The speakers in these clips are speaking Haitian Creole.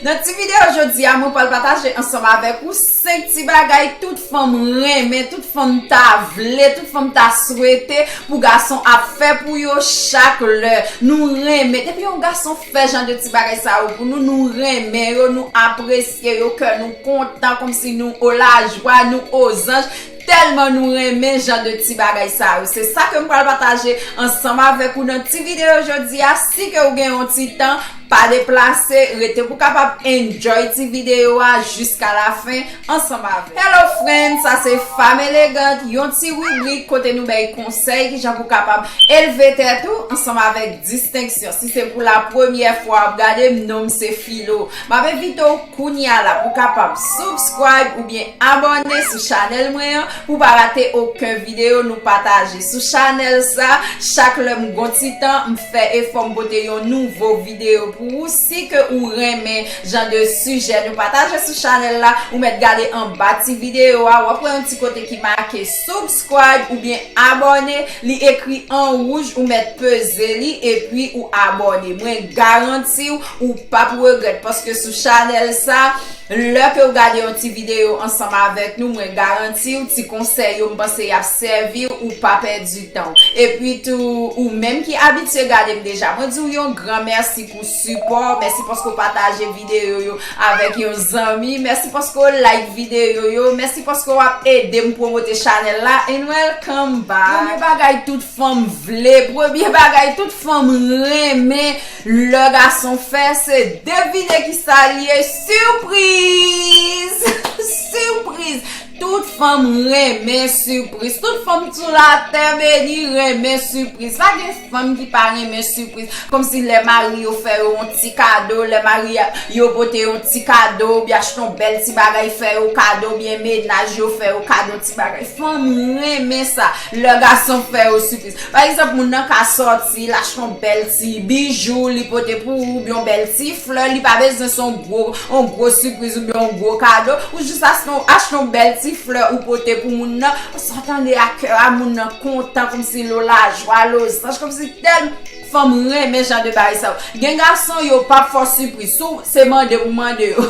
Nan ti video jodi a mwen pral pataje ansanm avèk ou 5 ti bagay tout fanm renmen, tout fanm ta vle, tout fanm ta swete pou gason ap fè pou yo chak lè nou renmen. Depi yon gason fè jan de ti bagay sa yo pou nou, nou renmen yo, nou apresye yo, kè nou kontan kòmsi nou o lajwa, nou o zanj. Tèlman nou renmen jan de ti bagay sa yo, se sa ke m pral pataje ansanm avèk ou nan ti videyo jodi a, si ke ou gen yon ti tan, pa deplase, rete pou kapab enjoy ti videyo a jiska la fen ansanm avèm. Hello friends, sa se Femme Elegante, yon ti ribrik kote nou bay konsèy kijan pou kapab elve tèt ou ansanm avèk distenksyon. Si se pou la premyè fwa wap gade m, non m se Filo. Map envite w. Kounye a la pou kapab subscribe oubyen abòne sou chanèl mwen an pou pa rate oken videyo nou pataje sou chanèl sa chak lè m gon ti tan m fè efò m pote yon nouvo videyo pou ou si ke ou renmen jan de sijè nou pataje sou chanèl la ou mèt gade anba ti videyo a wap wè yon ti kote ki make subscribe oubyen abòne li ekri an wouj ou mèt peze li epi ou abòne mwen garantiw Ou pap regrèt paske sou chanèl sa Lè ke ou gade yon ti video ansanm avèk nou mwen garantiw ti konsèy yo m panse yap sèviw ou pa pèdi tanw Epi tou ou menm ki abitye gadem deja mwen diw yon gran mèsi pou sipò w Mèsi paske ou pataje video yo avèk yon zanmi Mèsi paske ou like video yo Mèsi paske w ap edem pwomote chanèl la And welcome back Premye bagay tout fanm vle Premye bagay tout fanm renmen Lè gason fè se devine ki sa li ye surprise! Surprise! Tout fanm renmen surprise. Tout fanm sou la tè beni renmen surprise. Pa gen fanm ki pa renmen surprise. Kom si lè mari yo fè yo yon ti kado, lè mari yo pote yon ti kado, ou byen achte yon bel ti bagay fè yo kado, ou byen menaj yo fè yo kado ti bagay. Fanm renmen sa. Lè gason fè yo surprise. Pa egzanp, moun nan ka sòti, l achte yon bèl ti bijou, li pote pou ou, oubyen yon bèl ti flè, li pa bezwen se yon gwo, yon gwo sipriz oubyen yon gwo kado, ou jis achte yon, achte yon bèl ti flè ou pote pou moun nan, sa w tande a kè a moun nan kontan kòmsi l o lajwa, l o zanj, kòmsi tèlman. Fanm renmen jan de bagay sa yo. Gen gason yo pap fè w sipriz. Si w se mande pou mande yo.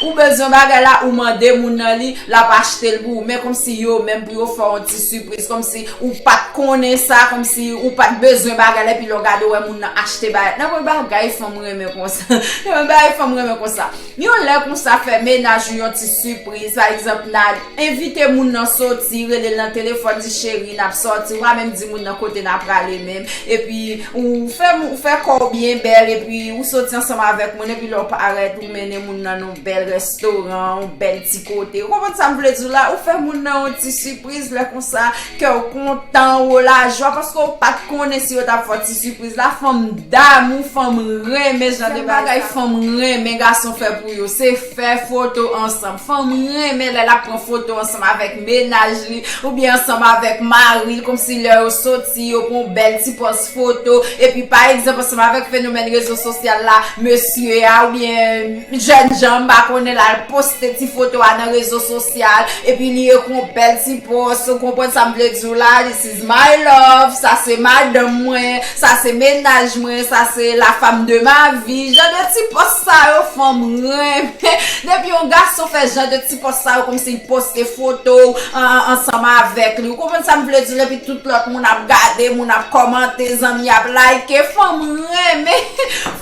Ou bezwen bagay la ou mande moun nan li, lap achte l pou ou. Men komsi yo menm pou yo fè w yon ti sipriz. Komsi ou pat konnen sa, komsi ou pat bezwen bagay la epi lè w gade w wè moun nan achte bagay. Nan pwen bagay fanm renmen konsa. Nan pwen bagay fanm renmen konsa. Yon lè konsa fè mennaj ou yon ti sipriz pa egzanp nan envite moun nan soti relel nan telefòn di cheri nap sòti ou pa menm di moun nan kote na prale menm epi ou fè ou fè kòw byen bèl epi ou soti ansanm avèk moun epi lèw parèt ou mennen moun nan yon bèl restoran yon bèl ti kote ou konprann sam vle diw la ou fè moun nan yon ti Priz lè konsa kèw kontan ou lajwa paske ou pat konnen si yo tap fè w ti sipriz la fanm damou fanm renmen jan de bagay fanm renmen gason fè pou yo se fè foto ansanm fanm renmen lè lap pran foto ansanm avèk mennaj li oubyen ansanm avèk mari l komsi lè yo soti yo pran yon bèl ti pòz foto epi pa egzanp ansanm avèk fenomèn rezo sosyal la mesye a oubyen jènjan m pa konnen lal poste ti foto a nan rezo sosyal. spesyal epi li ekri yon bèl ti post ou konprann sa m vle di w la this is my love sa se madanm mwen sa se mennaj mwen sa se la femme de ma vie jan de ti post sa yo fanm renmen depi yon gason fè jan de ti post sa yo kòmsi l poste foto w ansanm avèk li ou konprann sa m vle di w epi tout lòt moun ap gade moun ap kòmante zanmi ap like fanm renmen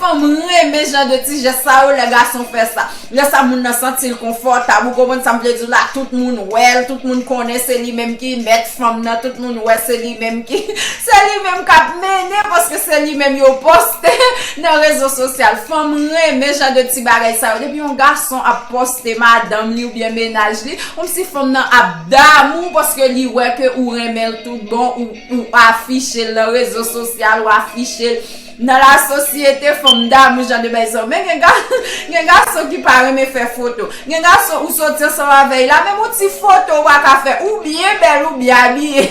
fanm renmen jan de ti jès sa yo lè gason fè sa. Lè sa moun nan santi l konfòtab, ou konprann sa m vle di w la, tout moun wè l, tout moun konnen se li menm ki mèt fanm nan, tout moun wè se li menm ki, se li menm k ap mennen paske se li menm yo poste nan rezo sosyal. Fanm renmen jan de ti bagay sa yo. Depi yon gason ap poste madanm li oubyen mennaj li, konmsi fanm nan ap damou paske li wè ke ou renmen l tout bon, ou afiche l nan rezo sosyal, ou afiche l. Nan la sosyete fanm damou jan de bay sa yo. Men gen gason, gen gason ki pa renmen fè foto. Gen gason ou soti ansanm avè y la menm yon ti foto ou pa ka fè. Ou byen bèl, ou byen abiye.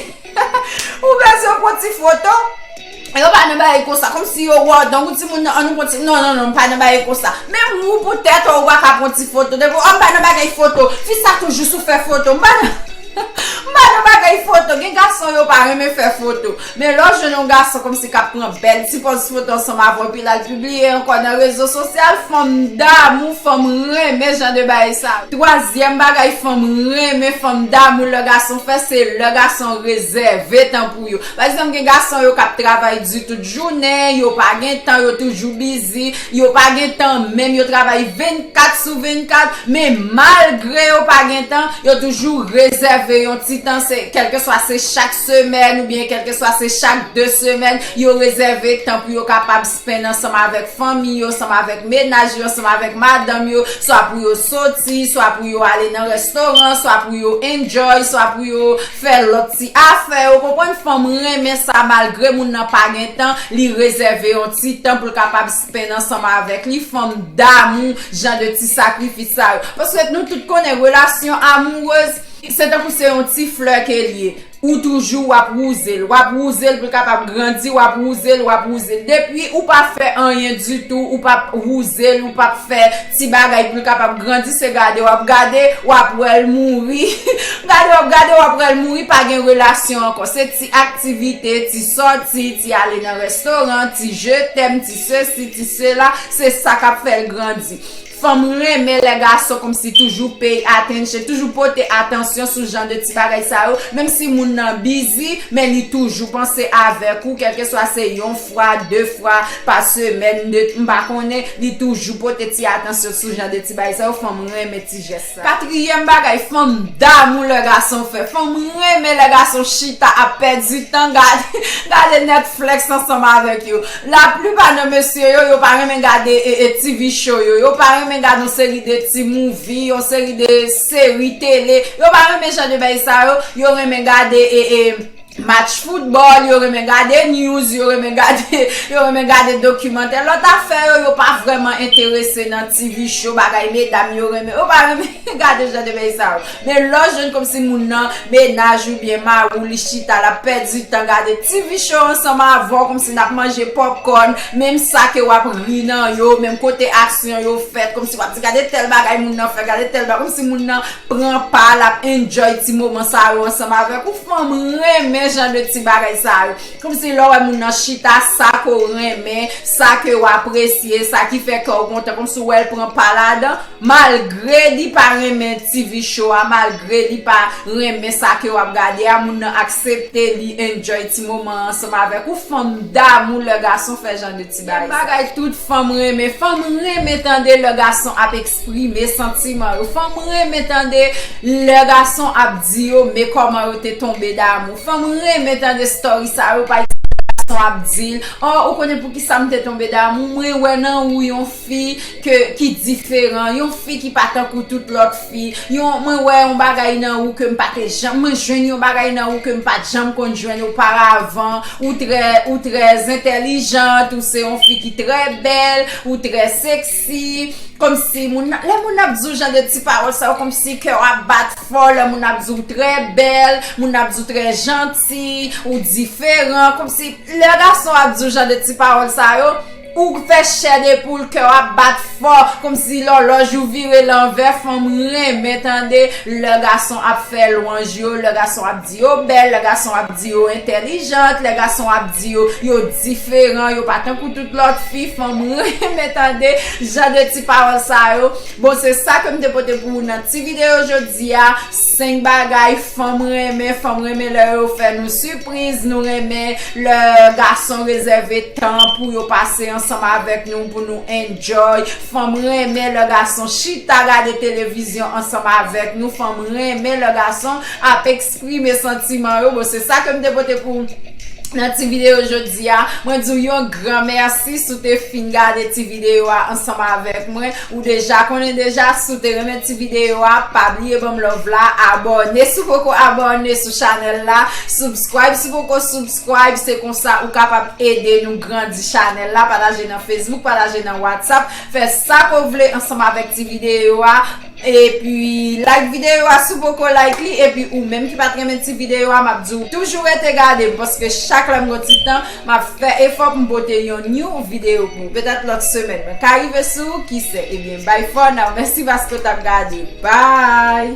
Ou bezwen pran ti foto. Yo pa nan bagay konsa. Kòm si yo wè w donk ou ti moun nan an nou pran ti. Non, non, non, m pa nan bagay konsa. Menm ou pou tèt ou, ou pa ka pran ti foto. Depi ou, a m pa nan bagay foto. Fi sa toujou sou fè foto. M pa nan, m pa nan bagay foto. Gen gason yo pa renmen fè foto. Men lè w jwenn yon gason kòmsi k ap pran bèl ti pòz foto ansanm avè w epi l al pibliye ankò nan rezo sosyal, fanm damou, fanm renmen jan de bagay sa yo. Twazyèm bagay fanm renmen, fanm damou lè gason fè, se lè gason rezève tan pou yo. Pa egzanp gen gason yo k ap travay di tout jounen, yo pa gen tan, yo toujou bizi, yo pa gen tan menm, yo travay 24 sou 24, men malgre yo pa gen tan, yo toujou rezève yon ti tan, se kèlkeswa se chak. semèn oubyen kèlkeswa se chak 2 semèn yo rezève tan pou yo kapab spenn ansanm avèk fanmi yo, ansanm avèk menaj yo, ansanm avèk madanm yo, swa pou yo soti, swa pou yo ale nan restoran, swa pou yo enjoy, swa pou yo fè lòt ti afè, ou konprann, fanm renmen sa malgre moun nan pa gen tan li rezève yon ti tan pou l kapab spenn ansanm avèk li, fanm damou jan de ti sakrifis sa yo paske nou tout konnen relasyon amourez Se tankou se yon ti flè ke l ye. Ou toujou w ap wouze l. W ap wouze l pou l kapab grandi. W ap wouze l, w ap wouze l. Depi ou pa fè anyen ditou, ou p ap wouze l, ou p ap fè ti bagay pou l kapab grandi, se gade w ap gade, w ap wè l mouri. Gade w ap gade, w ap wè l mouri, pa gen relasyon ankò. Se ti aktivite, ti sòti, ti ale nan restoran, ti je tèm, ti sesi, ti sela, se sa k ap fè l grandi. Fanm renmen lè gason komsi toujou pay attention, toujou pote atansyon sou jan de ti bagay sa yo, menm si moun nan bizi men li toujou panse avèk ou kèlkeswa se yon fwa, de fwa pa semèn, de m pa konnen, li toujou pote ti atansyon sou jan de ti bagay sa yo, fanm renmen ti jès. Katriyèm bagay fanm damou lè gason fè fanm renmen lè gason chita ap pèdi tan gade netflex ansanm avèk yo la plipa nan mesye yo yo pa renmen gade TV show yo yo pa renmen gad yon seri de ti mouvi yon seri de seri tele yo pa renmen jan de bay sa yo yo renmen gade Match foutbòl, yo renmen gade news, yo renmen gade, yo renmen gade dokimantè. Lòt afè yo, yo pa vrèman enterese nan TV show, bagay medam yo renmen. Yo pa renmen gade jan de bagay sa yo. Men lè w jwenn kòmsi moun nan, mennaj ou byen mari w, li chita, l ap pèdi tan gade TV show ansanm avè w, kòmsi n ap manje pòpkòn, menm sa ke w ap ri nan yo, menm kote aksyon yo fèt, kòmsi w ap di gade tèl bagay moun nan fè, gade tèl bagay, kòmsi moun nan. Pran pa l ap enjoy ti moman sa yo ansanm avèk ou fman m renmen jan de ti bagay sa yo kmsi lè w wè moun nan chita sa ke w renmen sa ke w apresye sa ki fè kè w kontan kmsi w wè l pran pa ladan malgre li pa renmen TV show a malgre li pa renmen sa ke w ap gade a moun nan aksepte li enjoy ti moman ansanm avèk ou fman m damou lè gason fè jan de ti. Yon bagay tout fanm renmen. Fanm renmen tande lè gason ap eksprime santiman yo. Fanm renmen tande lè gason ap di yo me kòman yo te tonbe damou. Fanm renmen tande story sa yo pa ekzanp lè gason ap di l oh ou konnen poukisa m te tonbe damou mwen wè nan ou yon fi ke ki diferan, yon fi ki pa tankou tout lòt fi, yon mwen wè yon bagay nan ou ke m pa te janm, mwen jwenn yon bagay nan ou ke m pa t janm konn jwenn oparavan, ou trè, ou trè zentèlijant, ou se yon fi ki trè bèl, ou trè seksi, kòmsi moun nan, lè moun nan ap di w jan de ti pawòl sa yo kòmsi kè w ap bat fò, lè moun nan ap di w trè bèl, moun nan ap di w trè janti, ou diferan, kòmsi lè gason ap di w jan de ti pawòl sa yo. Ou k fè chè de poul kèw ap bat fò komsi lòlòj ou vire lanvè fanm renmen tande lè gason ap fè lwanj yo lè gason ap di yo bèl lè gason ap di yo entèlijant lè gason ap di yo yo diferan yo pa tankou tout lòt fi fanm renmen tande jan de ti pawòl sa yo bon se sa kem te pote pou ou nan ti video jodia. 5 bagay fanm renmen Fanm renmen lè yo fè nou sipriz Nou renmen lè gason rezève tan Pou yo pase ansanm avèk nou Pou nou enjoy Fanm renmen lè gason chita gade televizyon ansanm avèk nou Fanm renmen lè gason ap eksprime santiman yo Bon se sa ke m te pote pou nan ti videyo jodi a Mwen di w yon gran mèsi si w te fin gade ti videyo a ansanm avèk mwen Ou deja konnen deja si w te renmen ti video a pa bliye banm love la abòne si w poko abòne sou chanèl la subscribe si w poko subscribe se konsa ou kapab ede nou grandi chanèl la pataje nan facebook pataje nan whatsapp fè sa ke w vle ansanm avèk ti video a epi like video a si w poko like li epi ou menm ki pat renmen ti video a map di w toujou rete gade m paske chak lèm gen ti tan Map fè efò pou m pote yon new video pou ou petèt lòt semèn mwen ka rive sou ou kise ebyen bye for now mèsi paske w tap gade bye.